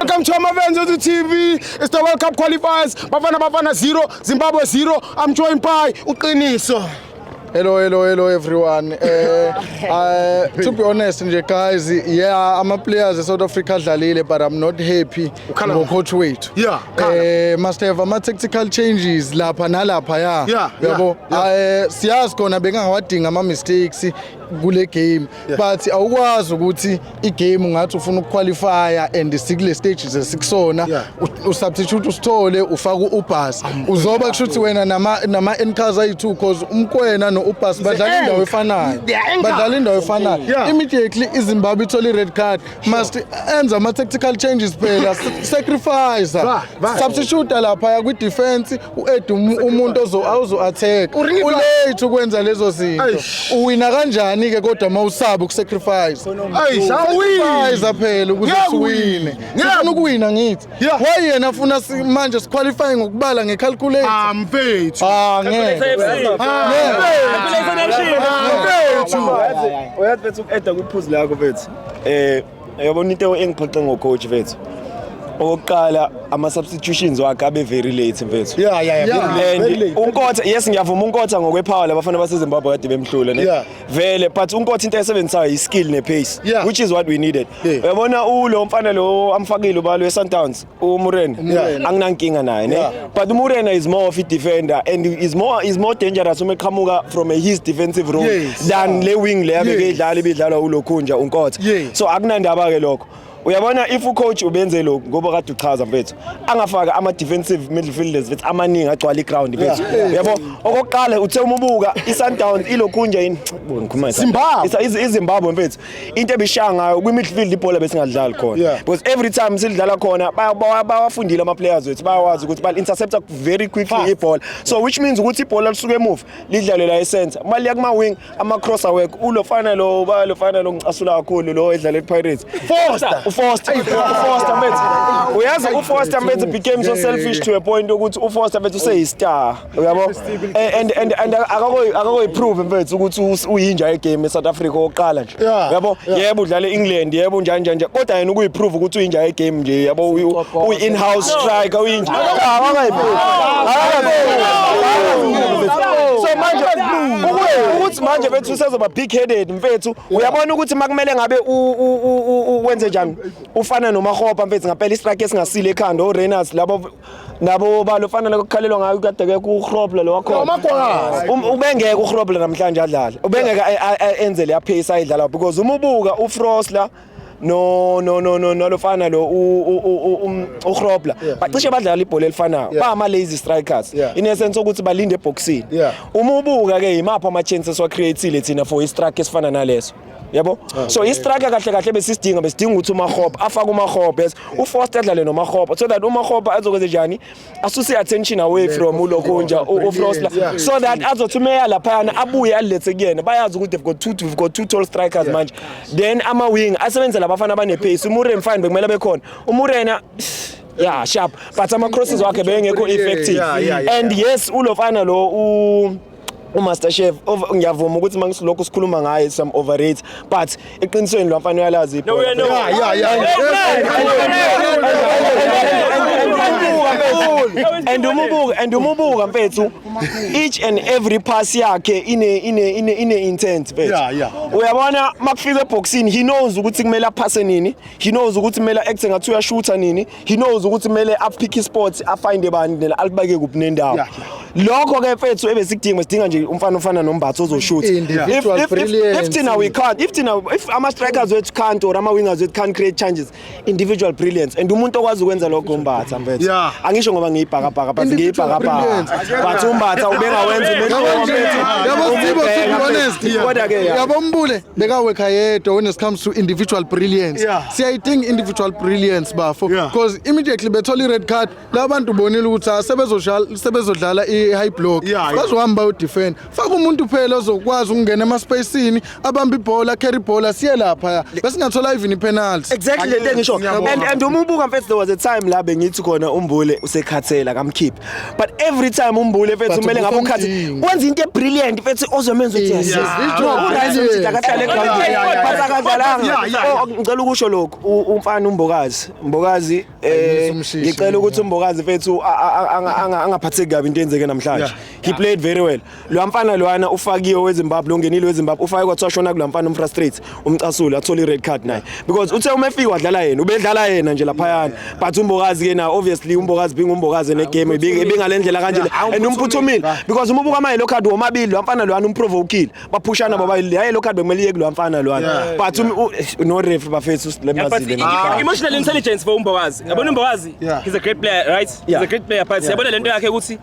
Welcome to Amavenzo TV. It's the World Cup qualifiers. Bafana Bafana 0, Zimbabwe 0. I'm joined by Uqiniso. Hello, hello, hello everyone. Uh, uh, to be honest nje guys, yeah, I'm a player ze South Africa adlalile but I'm not happy ngo coach wethu. Yeah. Eh must have ama tactical changes lapha nalapha ya. Yeah. Yabo. Eh siyazi khona bengawadinga ama mistakes kule game but awukwazi ukuthi igame ngathi ufuna ukuqualifya and sikule stage ze sikusona yeah. usubstitute usithole ufaka uubas uzoba kusho ukuthi wena nama-ncars ayi-two cause umkwena no-ubas badlala indawo efanayo badlala indawo efanayo yeah. immediately izimbabwe ithole i-red card sure. must enza ama-tactical changes phela sacrifice substitute laphaya kwi-defense u-ed um- umuntu ozo- awuzo-atheka Uriva. ulate ukwenza lezo zinto Eish. uwina kanjani-ke kodwa uma usaba ukusacrifice Ayi, shawini. Sacrifice phela ukuze Ngeke siwine Ngeke. sifuna ukuwina ngithi Yeah. why yena afuna si- manje siqualify ngokubala ngecalculate Ah, mfethu. Ah, ngeke Uyathi bethi uku-eda kwiphuzu lakho bethi. Eh Yabona into engiphoxe ngocoach vethu okokuqala ama-substitutions wakhe abe very late mfethu Yeah, yeah, yeah, Yeah. very late, very and late. unkotha yes ngiyavuma unkotha ngokwephawula abafana basezimbabwe kade bemhlule ne Yeah. vele but unkotha into ayisebenzisayo yi-skill ne-pace Yeah. which is what we needed Yeah. uyabona ulo mfana lo amfakile ubalo e-sundowns umurena Umurena. anginankinga naye ne Yeah. but umurena is more of a defender and is more is more dangerous uma eqhamuka from a his defensive role Yes. than le wing le abeke Yes. idlala ibidlalwa ulokhunja unkotha Yes. so akunandaba ke lokho uyabona if ucoach ubenze lokhu ngoba kade uchaza mfethu angafaka ama-defensive midfielders mfethu amaningi agcwala i-ground mfethu Yeah. uyabo okokuqala uthe umubuka i-sundowns ilokhunja yini Bo, ngikhuluma nge- Zimbabwe. Isa- iz- izimbabwe mfethu into ebishaya ngayo kwi midfield ibhola besingadlali khona yeah. because every time sidlala khona bawafundile ama players wethu bayawazi ukuthi bal intercepta very quickly ibhola so which means ukuthi ibhola lisuke emuva lidlale la esenza uma liya kuma wing ama cross away ulo fana lo ba lo fana lo ngicasula kakhulu lo edlala ePirates Foster uFoster uFoster mate uyazi uFoster mate became so selfish to a point ukuthi uFoster mate useyistar uyabo eh, and and and akakoyiprove mfethu ukuthi uyinja egame eSouth Africa oqala nje uyabo yebo udlala eEngland yebo njani njani nje kodwa yena ukuyiprove ukuthi uyinja egame nje yabo uyi in house striker uyinja akayiprove so manje ukuthi manje bethu usezoba big headed mfethu uyabona ukuthi makumele ngabe wenze njani ufana nomahopa mfethu ngapela istrike esingasile ekhanda oRenas labo nabo balo fanele kukhalelwa ngayo kade ke kurobla lo wakho um, ubengeke urobla namhlanje adlale ubengeke enze le yaphisa ayidlala because uma ubuka ufrosla no no no no nalofana lo um, uhrobla bacishe badlala ibhola elifanayo bama lazy strikers in essence ukuthi balinde eboxini uma ubuka ke yimaphi ama chances wa createile thina for i strike esifana naleso yabo ah, so istrike kahle kahle besisidinga besidinga ukuthi umahopa afake umahopa yes ufoster adlale nomahopa so that umahopa azokwenze njani asuse i-attention away from ulokhunja ufrosla so that azothi umeya laphayana abuye alilethe kuyena bayazi ukuthi they've got two we've got two tall strikers manje then ama-wing asebenzise labafana abanepace umuren fine bekumele bekhona umurena yeah sharp but ama-crosses wakhe bengekho effective and yes ulofana lo umaster chef ngiyavuma ukuthi mangisilokhu sikhuluma ngaye some overrate but eqinisweni lo mfana uyalazi no, no, no. Yeah, yeah, yeah. and umubuka and umubuka mfethu each and every pass yakhe ine ine ine ine intent mfethu yeah, yeah. uyabona makufika eboxini he knows ukuthi kumele aphase nini he knows ukuthi kumele acte ngathi uyashutha nini he knows ukuthi kumele apick isport afinde bani nela alibake kuphi nendawo Yeah, lokho ke mfethu ebesikudinga sidinga nje umfana ofana nombatho ozoshutha if, Individual if, if, if brilliance. thina we can't if thina if ama strikers wethu can't or ama wingers wethu can't create changes individual brilliance and umuntu okwazi ukwenza lokho umbatha mfethu Yeah. angisho ngoba ngiyibhakabhaka but Individual ngiyibhakabhaka but umbatha ubengawenza Yabo nje, yabo Sibo, to be honest, kodwa ke ya. yabo Mbule, bekawekha yedwa when it comes to individual brilliance yeah. siyayidinga individual brilliance bafo because yeah. immediately bethola i-red card laba bantu bonile ukuthi ah, sebezodlala i-high block yeah, bazohamba yeah. bayodefend faka umuntu phela ozokwazi ukungena emaspacini abambe ibhola carry ibhola siye lapha besingathola even ipenalty exactly le nto engisho and, and uma ubuka mfethu there was a time la bengithi khona umbule usekhathela kamkhiphe but every time umbule mfethu But kumele ngabe ukhathi ubukamdingi. wenza into ebrilliant mfethu ozomenza ukuthi Yes, yes it's no not urise brilliant. ukuthi akahlale Yeah, yeah, yeah, eground yeah. but akadlalanga Yeah, yeah, yeah. Oh, ngicela ukusho lokhu u- umfana umbokazi mbokazi eh Ayimisa umshishi, ngicela ukuthi yeah. umbokazi mfethu a- a- a- anga- anga- angaphatheki kabi into eyenzeke namhlanje Yeah. he played very well Lo mfana loana ufakiwe weZimbabwe longenile weZimbabwe ufake kwathiwa shona kula mfana umfrustrate umcasule athola ired card naye because uthe uma efika wadlala yena ubedlala yena nje laphayana but umbokazi ke na obviously umbokazi binga umbokazi negame ibingalendlela kanje and umphuthumile because uma ubuka ama yellow card womabili lo mfana loana umprovokile baphushana bobabili hayi yellow card bekumele iye kulo mfana loana but um, no ref bafethu usilemazile ah, emotional intelligence for umbokazi yabona umbokazi he's a great player right he's a great player but yabona lento yakhe ukuthi